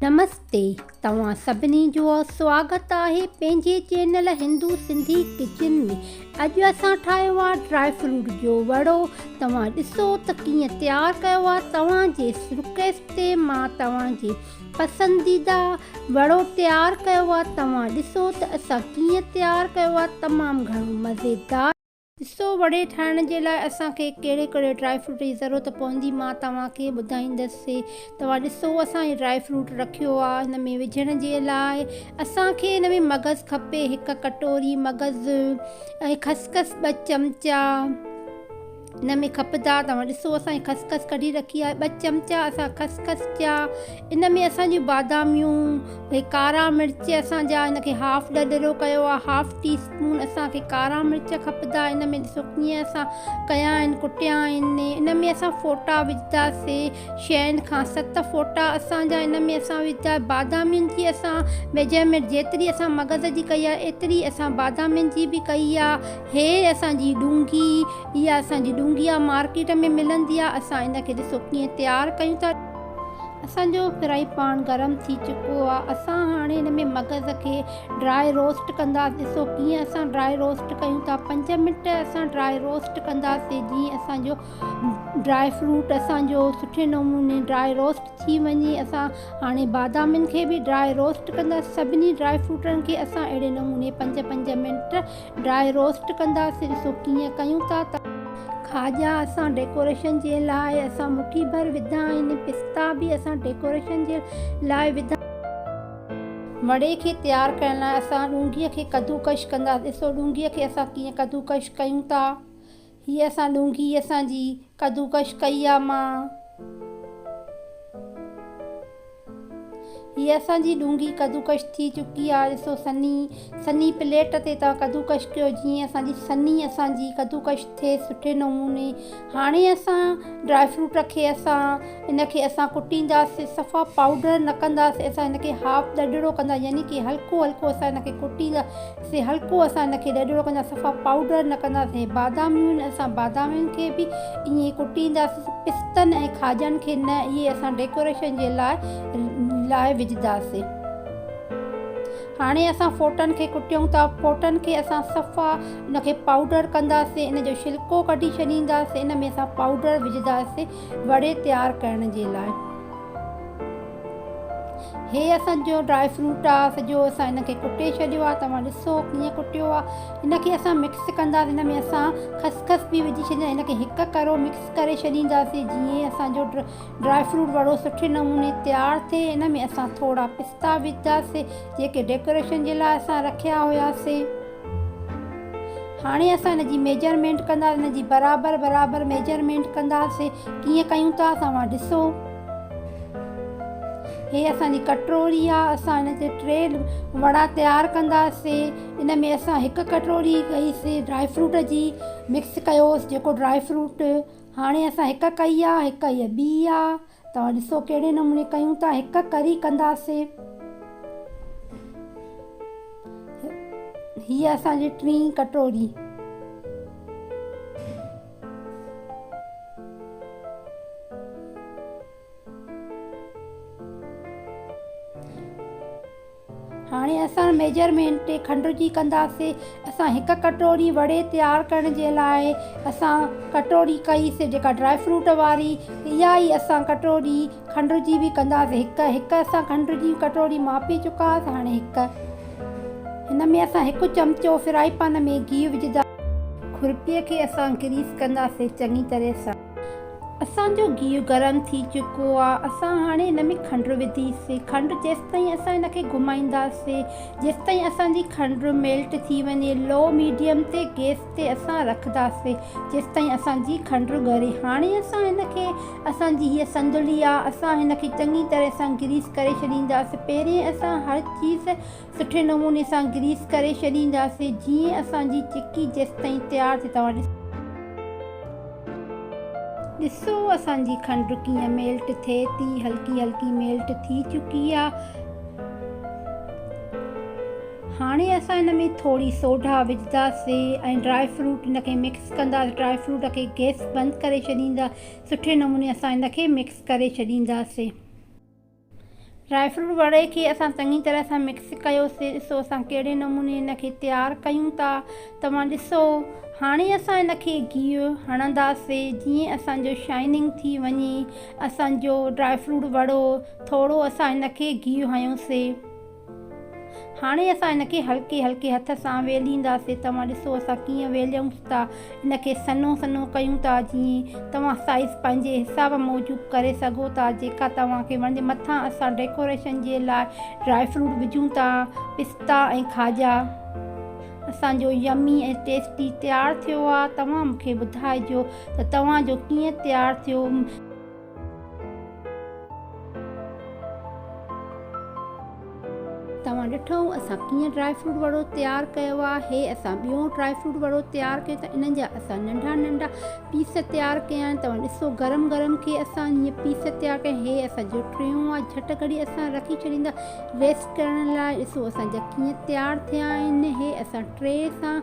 نمستي توهان سڀني جو سواگت آهي پنهنجي چينل هندو سنڌي ڪچن ۾ اڄ اسان ٺاهيو آهي ڊرائي فروٽ جو وڙو توهان ڏسو ته ڪيئن تيار ڪيو آهي توهان جي رڪويسٽ تي مان توهان جي پسنديده وڙو تيار ڪيو آ توهان ڏسو ته اسان ڪيئن تيار ڪيو آ تمام گهڻو مزيدار. ڏسو وڙي ٺاهڻ جي لاء اسان کي ڪهڙي ڪهڙي ڊرائي فروٽ جي ضرورت پوندي مان توهان کي ٻڌائيندس توهان ڏسو اسان هي ڊرائي فروٽ رکيو آ هن ۾ وجهڻ جي لاء اسان کي هن ۾ مغز کپي هڪ ڪٽوري مغز ۽ خسخس ٻه چمچا. ان ۾ خبردار توهان ڏسو اسان هي خس خس ڪڍي رکي آهي ٻه چمچا اسان خس خس جا ان ۾ اسان جون باداميون هي ڪارا مرچ اسان جا ان کي هاف ڏڏرو ڪيو آهي هاف ٽي اسپون اسان کي ڪارا مرچ کپدا ان ۾ ڏسو ڪيئن اسان ڪيا آهن ڪٽيا آهن ان ۾ اسان ڦوٽا وجهدا سي شين کان ست ڦوٽا اسان جا ان ۾ اسان وجهدا بادامين جي اسان ميجرمينٽ جيتري اسان مغز جي ڪئي آهي ايتري اسان بادامين جي به ڪئي آهي هيء اسان جي ڏونگي، اها اسان جي ڏونگي آ، مارڪيٽ ۾ ملندي آ، اسان ان کي ڏسو ڪيئن تيار ڪيون ٿا. اسان جو فرائي پان گرم ٿي چڪو آ، اسان هاڻي ان ۾ مغز کي ڊرائي روسٽ ڪنداس، ڏسو ڪيئن اسان ڊرائي روسٽ ڪيون ٿا، پنج منٽ اسان ڊرائي روسٽ ڪنداسين، جيئن اسان جو ڊرائي فروٽ اسان جو سٺي نموني ڊرائي روسٽ ٿي وڃي، اسان هاڻي بادامين کي به ڊرائي روسٽ ڪنداسين، سڀني ڊرائي فروٽن کي اسان اهڙي نموني پنج پنج منٽ ڊرائي روسٽ ڪنداسين سو ڪيئن ڪيون ٿا ته. کاڄا اسان ڊيڪوريشن جي لاء اسان مٺي ڀر وڌا آهن ۽ پستا به اسان ڊيڪوريشن جي لاء وڌا. مڙئي کي تيار ڪرڻ لاء اسان ڏونگي کي ڪدوڪش ڪنداسين سو ڏونگي کي اسان ڪيئن ڪدوڪش ڪيون ٿا هيء اسان ڏونگي اسان جي ڪدوڪش ڪئي آ مان. هيء اسان جي ڏونگي ڪدوڪش ٿي چڪي آ ڏسو سني سني پليٽ تي توهان ڪدوڪش ڪيو جيئن اسان جي سني اسان جي ڪدوڪش ٿئي سٺي نموني هاڻي اسان ڊرائي فروٽ کي اسان ان کي اسان ڪٽينداسين صفا پائوڊر نه ڪنداسين اسان ان کي هاف ڏڍڙو ڪندا يعني ڪي هلڪو هلڪو اسان ان کي ڪٽيندا سين هلڪو اسان ان کي ڏڍڙو ڪندا صفا پائوڊر نه ڪندا سين باداميون آهن اسان بادامين کي به ائين ئي ڪٽينداسين پستن ۽ کاڄن کي نه اهي اسان ڊيڪوريشن جي لاء لاء وجهداسين هاڻي اسان ڦوٽن کي ڪٽيون ٿا ڦوٽن کي اسان صفا ان کي پائوڊر ڪنداسين ان جو شلڪو ڪڍي ڇڏينداسين ان ۾ اسان پائوڊر وجهداسين وڙي تيار ڪرڻ جي لاء هي اسان جو ڊرائي فروٽ آ سڄو اسان ان کي ڪٽي ڇڏيو آ توهان ڏسو ڪيئن ڪٽيو آ ان کي اسان مڪس ڪنداسين ان ۾ اسان خسخس به وجهي ڇڏيندا ان کي هڪ ڪرو مڪس ڪري ڇڏينداسين جيئن اسان جو ڊرائي فروٽ وڙو سٺي نموني تيار ٿئي ان ۾ اسان ٿورا پستا وجهنداسين جيڪي ڊيڪوريشن جي لاء اسان رکيا هياسين هاڻي اسان هن جي ميجرمينٽ ڪنداسين هن جي برابر برابر ميجرمينٽ ڪنداسين ڪيئن ڪيون ٿا اسان وٽ ڏسو هي اسان جي ڪٽوري آهي اسان هن تي ٽي وڙا تيار ڪنداسين ان ۾ اسان هڪ ڪٽوري ڪئيسي ڊرائي فروٽ جي مڪس ڪيوس جيڪو ڊرائي فروٽ هاڻي اسان هڪ ڪئي آهي هڪ هيء ٻي آهي توهان ڏسو ڪهڙي نموني ڪيون ٿا هڪ ڪري ڪنداسين هيء اسان جي ٽين ڪٽوري. هاڻي اسان ميجرمينٽ کنڊرجي ڪنداسي. اسان هڪ ڪٽوري وڙي تيار ڪرڻ جي لاء اسان ڪٽوري ڪئي سي جيڪا ڊرائي فروٽ واري اها ئي اسان ڪٽوري کنڊرجي به ڪنداسي هڪ هڪ اسان کنڊرجي ڪٽوري ماپي چڪاس هاڻي هڪ هن ۾ اسان هڪ چمچو فرائي پان ۾ گيهه وجهنداسي. کورپي کي اسان گريس ڪنداسي چڱي طرح سان. اسان جو گيهه گرم ٿي چڪو آ. اسان هاڻي هن ۾ کنڊ وڌيسين. کنڊ جيستائين اسان هن کي گهمائينداسين. جيستائين اسان جي کنڊ ميلٽ ٿي وڃي. لو ميڊيم تي گيس تي اسان رکداسين. جيستائين اسان جي کنڊ ڳري. هاڻي اسان هن کي اسان جي هيء سندلي آ. اسان هن کي چڱي طرح سان گريس ڪري ڇڏينداسين. پهرين اسان هر چيز سٺي نموني سان گريس ڪري ڇڏينداسين جيئن اسان جي چڪي جيستائين تيار ٿي توهان ڏسو. ڏسو اسان جي کنڊ ڪيئن ميلٽ ٿئي ٿي هلڪي هلڪي ميلٽ ٿي چڪي آ هاڻي اسان ان ۾ ٿوري سوڍا وجهداسين ۽ ڊرائي فروٽ ان کي مڪس ڪنداسين ڊرائي فروٽ کي گيس بند ڪري ڇڏيندا سٺي نموني اسان ان کي مڪس ڪري ڇڏينداسين. ڊرائي فروٽ وڙي کي اسان چڱي طرح سان مڪس ڪيوسي ڏسو اسان ڪهڙي نموني هن کي تيار ڪيون ٿا توهان ڏسو هاڻي اسان هن کي گيهه هڻنداسي جيئن اسان جو شائننگ ٿي وڃي اسان جو ڊرائي فروٽ وڙو ٿورو اسان هن کي گيهه هنيوسي هاڻي اسان ان کي هلڪي هلڪي هٿ سان ويلهينداسين، توهان ڏسو اسان ڪيئن ويلهيون ٿا، ان کي سنهو سنهو ڪيون ٿا، جيئن توهان سائيز پنهنجي حساب موجب ڪري سگهو ٿا، جيڪا توهان کي وڻجي، مٿان اسان ڊيڪوريشن جي لاء ڊرائي فروٽ وجهون ٿا، پستا ۽ کاڄا، اسان جو يمي ۽ ٽيسٽي تيار ٿيو آهي، توهان مون کي ٻڌائجو ته توهان جو ڪيئن تيار ٿيو. توهان ڏٺئو اسان ڪيئن ڊرائي فروٽ وڙو تيار ڪيو آهي. اسان ٻيو ڊرائي فروٽ وڙو تيار ڪيو ته انهن جا اسان ننڍا ننڍا پيس تيار ڪيا آهن. توهان ڏسو گرم گرم کي اسان جيئن پيس تيار ڪيا آهن. هي اسان جو ٽيون آهي. جهٽ گهڙي اسان رکي ڇڏيندا ريسٽ ڪرڻ لاء. ڏسو اسان جا ڪيئن تيار ٿيا آهن. هي اسان ٽري سان.